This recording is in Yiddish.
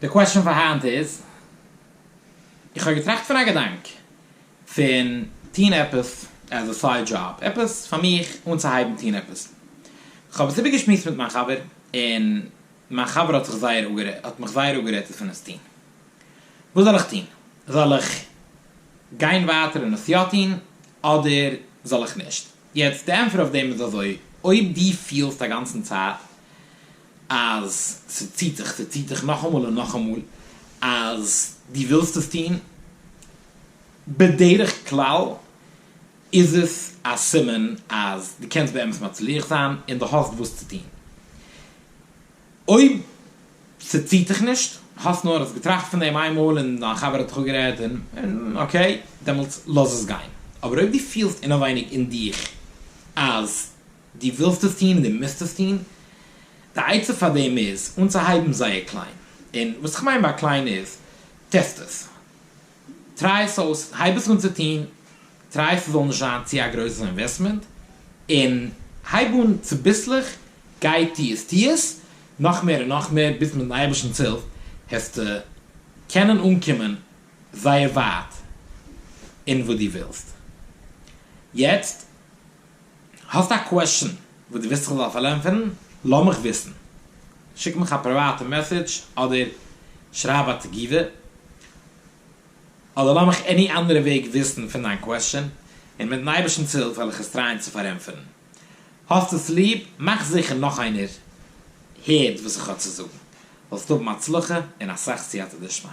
די קוועסטשען פאר היינט איז, איך האב געטראכט פון א געדאנק פון טון עפעס עז א סייד דזשאב, עפעס פאר מיך אנצוהייבן טון עפעס, כ'האב עס איבערגעשמועסט מיט מיין חבר, און מיין חבר האט זיך זייער אפגערעדט, האט מיך זייער אפגערעדט עס פון עס טון, וואס זאל איך טון? זאל איך גיין ווייטער און עס יא טון, אדער זאל איך נישט? יעצט די ענטפער אויף דעם איז אזוי, אויב דו פילסט אגאנצן צייט אז ס'ציט דיך, ס'ציט דיך נאכאמאל און נאכאמאל, אז דו ווילסט עס טון, בדרך כלל איז עס א סימן אז דו קענסט באמת מצליח זיין און דו האסט וואס צו טון. אויב ס'ציט דיך נישט, האסט נאר האסט געטראכט פון דעם איינמאל און דיין חבר האט דיך אפגערעדט און אקעי, דעמאלטס לאז עס גיין. אבער אויב דו פילסט אינעווייניג אין דיך אז. דו ווילסט עס טון, דו מוזט עס טון. די עצה פאר דעם איז אנצוהייבן זייער קליין, און וואס איך מיין ביי קליין איז, טעסט עס, טריי עס אויס, הייב עס אן צו טון, טריי עס ס'זאל נישט זיין צו א גרויסע אינוועסטמענט, און הייב אן צוביסלעך, גיי טו עס, טו עס נאך מער און נאך מער, ביז מיט'ן אייבערשטנ'ס הילף העסטו קענען אנקומען זייער ווייט אין וואס דו ווילסט יעצט. האסט א קוועשן וואס דו ווילסט איך זאל פארענטפערן, לאמיך וויסן. שיק מיך א פריוואטע מעסעדזש אדער שרייב א תגובה. אדער לאמיך עני אנדערע וועג וויסן פון דיין קוועשן, און מיטן אייבערשטנ'ס הילף וועל איך עס טרייען צו פארענטפערן. האסט עס ליב? מאך זיכער נאך איינער הערט וואס איך האב צו זאגן. זאלסט האבן הצלחה און אסאך סייעתא דשמיא.